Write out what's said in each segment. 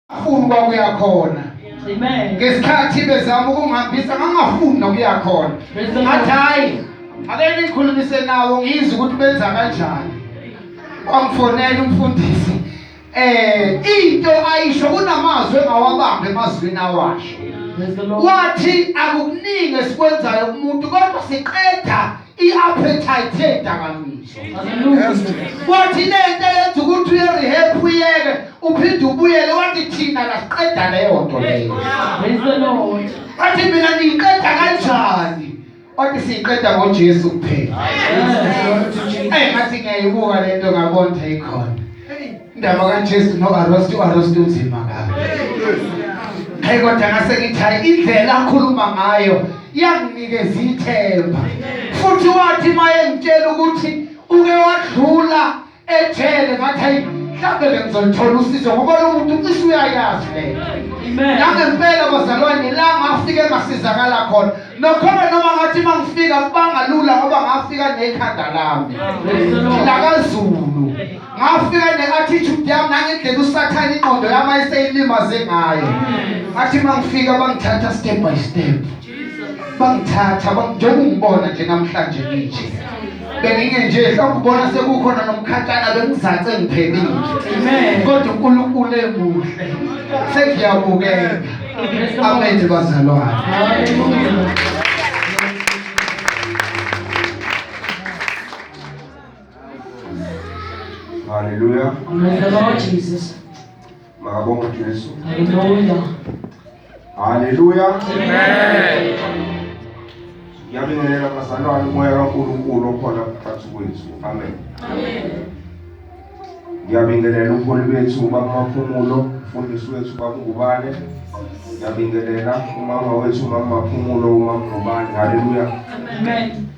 afuni ukuba kuya khona ngesikhathi bezama ukungihambisa ngangafuni nokuya khona ngathi hhayi ake nikhulumise nawo ngizwe ukuthi benza kanjani wangifonela umfundisi eh into ayisho kunamazwi engawabambe emazwini awasho wathi akukuningi esikwenzayo kumuntu kodwa siqeda i-appetite yedakamizwa wathi nento yenza ukuthi uye-rehab uyeke uphinde ubuyele wathi thina kasiqeda leyo nto leyo wathi mina niyiqeda kanjani wathi siyiqeda ngojesu kuphela eyi ngathi ngiyayibuka le nto ngabona ikhona Indaba kaJesu noArosti uArosti unzima kabi. Hey kodwa ngase ngithi hayi indlela akhuluma ngayo iyanginikeza ithemba. Futhi wathi maye ngitshela ukuthi uke wadlula ejele ngathi hayi mhlawumbe bengizolithola usizo ngoba lo muntu cishe uyayazi le nangempela bazalwane la ngafike ngasizakala khona nokhona noma ngathi uma ngifika kubangalula ngoba ngafika nekhanda lami lakazulu ngafika ne-attitude yami nangendlela usathane ingqondo yami ayeseyilimaze ngayo athi uma ngifika bangithatha step by step bangithatha njengoba ungibona nje namhlanje nginje benginge nje mhlawumbe ubona sekukhona nomkhatshana bengizace ngiphelile kodwa unkulunkulu emuhle sengiyabukeka amen bazalwane Hallelujah. Praise the Lord Jesus. Makabonga Jesu. Hallelujah. Hallelujah. Amen. Ngiyabingelela bazalwane umoya kaNkulunkulu okhona phakathi kwethu. Amen. Amen. Ngiyabingelela umholi bethu ubaba Maphumulo, umfundisi wethu ubaba Ngubane. Ngiyabingelela umama wethu umama Maphumulo, umama Ngubane. Hallelujah. Amen.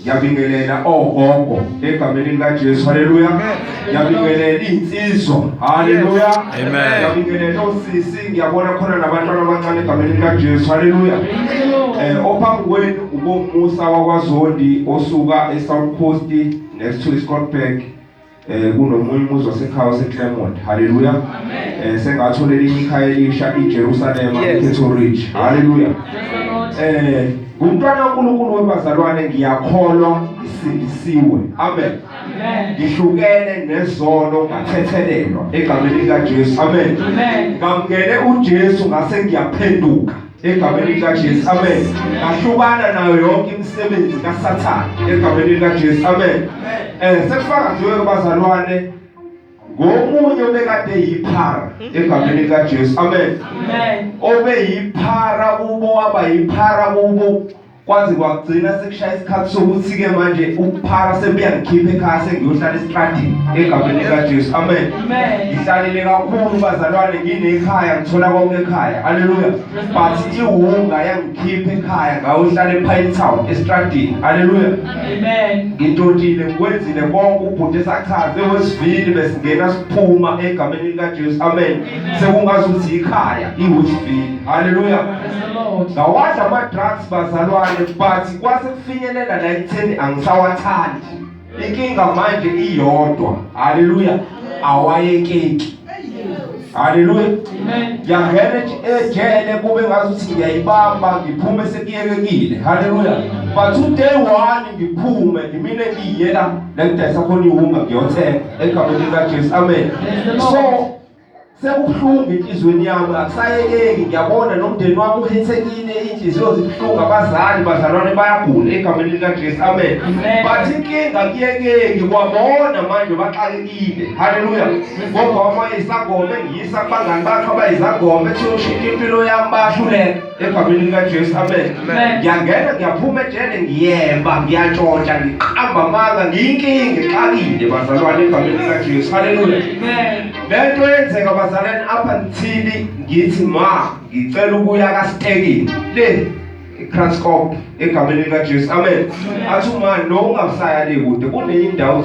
Ngiyabingelela ogogo egameni likaJesu. Haleluya. Ngiyabingelela insizwa. Haleluya. Amen. Ngiyabingelela osisi, ngiyabona khona nabantwana abancane egameni likaJesu. Haleluya. Eh ophambi kwenu ubomusa wakwaZondi osuka eSouth Coast next to Scotland. eh kunomunye umuzi wasekhaya waseClermont haleluya eh sengathola elinye ikhaya elisha iJerusalem ePetro Ridge haleluya eh ngumntwana kaNkuluNkulu webazalwane ngiyakholwa ngisindisiwe amen ngihlukene nezono ngathethelelwa egameni likaJesu amen ngamngene uJesu ngase ngiyaphenduka egameni likaJesu amen ngahlukana nayo yonke imisebenzi kaSathane egameni likaJesu amen eh sekufaka nje kubazalwane ngomunye obekade yiphara egameni likaJesu amen amen obeyiphara kubo waba yiphara kubo Kwaze kwagcina sekushaya isikhathi sokuthi-ke manje ukuphara sebuyangikhipha ekhaya sengiyohlala esitradini egameni likajesu amen ngihlalile kakhulu bazalwane nginekhaya ngithola konke ekhaya aleluya but iwunga yangikhipha ekhaya ngayohlala epine town esitradini aleluya ngintotile ngikwenzile konke ubhuti esachaze wesivili besingena siphuma egameni likajesu amen sekungazi ukuthi yikhaya iwesivili haleluya ngawadla ama-drugs bazalwane but kwase kufinyelela la ekutheni angisawathandi inkinga manje iyodwa haleluya awayekeki haleluya yangena ejele kube ngazuthi ngiyayibamba ngiphume sekuyekekile haleluya but today one ngiphume ngimine ngiyela la ngidayisa khona iwunga ngiyothenga egameni likajesu amen so sekubuhlungu enhliziyweni yami akusayekeki ngiyabona nomndeni wami uhethekile iy'nhliziyo zibuhlungu abazali bazalwane bayagula egameni likajesu amen bathi inkinga kuyekeki kwabona manje baxakekile haleluya ngoba wama isangoma engiyisa kubangani bakho abayizangoma ethi ushintsha impilo yami bayahluleka egameni likajesu amen ngiyangena ngiyaphuma ejele ngiyemba ngiyatshontsha ngiqamba amanga ngiyinkinga ngixakile bazalwane egameni likajesu haleluya le nto yenzeka bazalwane apha ngithili ngithi ma ngicela ukuya kasitekini le ikraskop egameni likajesu amen athi uma nowungasaya le kude kuneyindawo